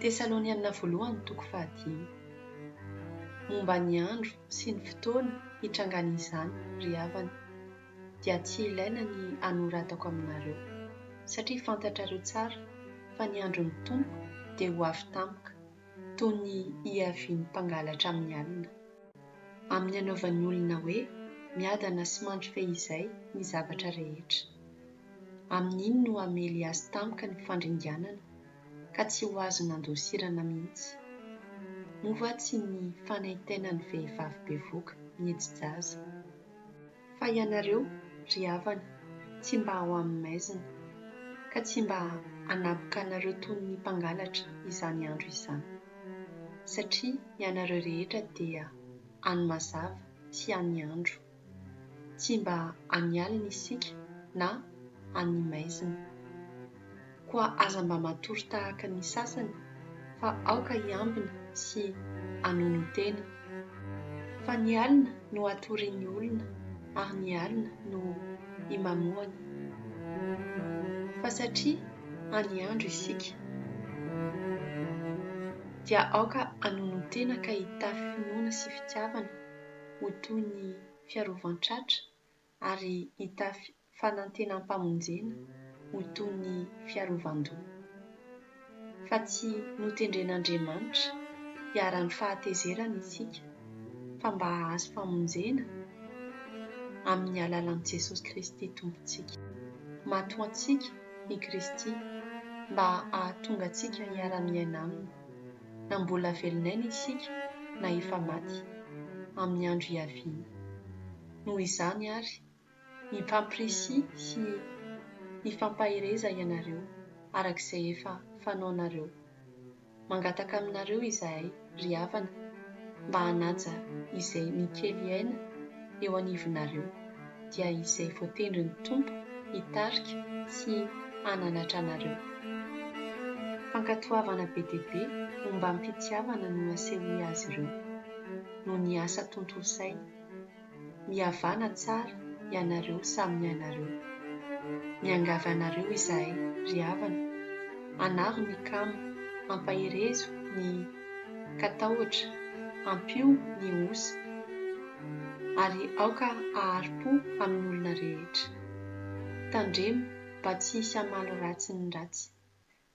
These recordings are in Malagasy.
Tesalonianina Voalohany toko fahadimy. Momba ny andro sy ny fotoana hitrangan'izany, ry havana, dia tsy ilaina ny hanoratako aminareo, satria fantatrareo tsara fa ny andron'ny Tompo dia ho avy tampoka toy ny hiavian'ny mpangalatra amin'ny alina. Amin'ny hanaovan'ny olona hoe miadana sy mandry fehizay ny zavatra rehetra. Amin'iny no hamely azy tampoka ny fandringanana ka tsy ho azo nandosirana mihitsy. Moa va tsy ny fanaintainan'ny vehivavy bevoka miheji-jaza? Fa ianareo, ry havana, tsy mba ao amin'ny maizina, ka tsy mba hanaboka anareo toy ny mpangalatra izany andro izany. Satria ianareo rehetra dia any mazava sy any andro. tsy mba any alina isika na any maizina. Koa aza mba matory tahaka ny sasany fa aoka hiambina sy hanono tena. Fa ny alina no atorian'ny olona ary ny alina no imamoana. Fa satria any andro isika dia aoka hanono tena ka hitafy finoana sy fitiavana. ho toy ny fiarovan-tratra ary hitafy fanantenam-pamonjena ho toy ny fiarovan-doha. Fa tsy notendren'Andriamanitra hiharan'ny fahatezerana isika, fa mba hahazo famonjena amin'ny alalan'i Jesosy Kristy Tompontsika. Matoantsika i Kristy mba hahatonga antsika hiara-miaina Aminy. na mbola velon'aina isika na efa maty, amin'ny andro hiaviana. Noho izany àry, mifampirisika sy mifampahereza ianareo araka izay efa fanaonareo. Mangataka aminareo izahay, ry havana, mba hanaja izay mikely aina eo anivonareo. dia izay voatendrin'ny Tompo hitarika sy hananatra anareo. Fankatoavana be dia be ombam-pitiavana no asehoy azy ireo, noho ny asa tontosainy. Mihavàna tsara ianareo samy mianareo. Miangavy anareo izahay, ry havana, hanaro ny kamo, hampaherezo ny. ka tahotra, ampio ny osa, ary aoka hahari-po amin'ny olona rehetra. Tandremo mba tsy hisy hamaly ratsy ny ratsy,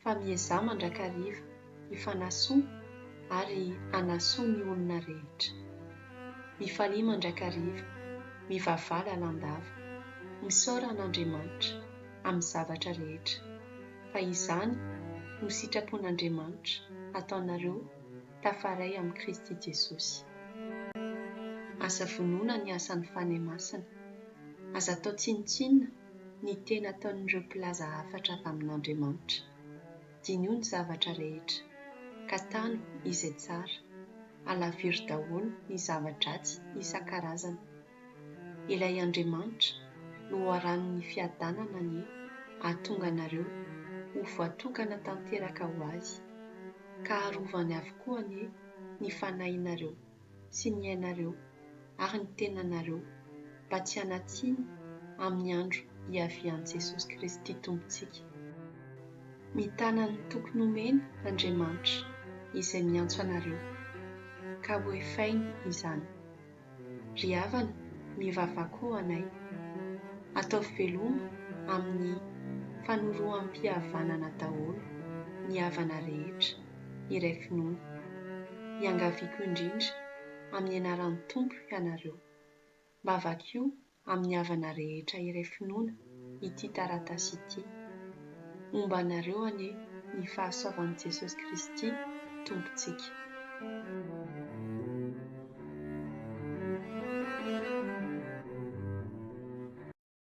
fa miezaha mandrakariva hifanasoa ary hanasoa ny olona rehetra. Mifalia mandrakariva, mivavaha lalandava, misaora an'Andriamanitra amin'ny zavatra rehetra. fa izany no sitrapon'Andriamanitra ataonareo tafaray amin'i Kristy Jesosy. Aza vonoina ny asan'ny Fanahy Masina. Aza atao tsinontsinona ny teny ataon'ireo mpilaza hafatra avy amin'Andriamanitra. Diniho ny zavatra rehetra, ka tano izay tsara. Alaviro daholo ny zava-dratsy isan-karazany. Ilay Andriamanitra loharanon'ny fiadanana anie hahatonga anareo ho voatokana tanteraka ho Azy, ka harovany avokoa anie ny fanahinareo sy ny ainareo ary ny tenanareo mba tsy hanatsiny amin'ny andro hiavian'i Jesosy Kristy Tompontsika. Mitana ny toky nomeny Andriamanitra izay miantso anareo, ka hoefainy izany. Ry havana, mivavaha koa ho anay. Ataovy veloma amin'ny fanoroham-pihavanana daholo ny havana rehetra iray finoana. Iangaviako indrindra amin'ny anaran'ny Tompo ianareo, mba vakio amin'ny havana rehetra iray finoana ity taratasy ity. Homba anareo anie ny fahasoavan'i Jesosy Kristy Tompontsika.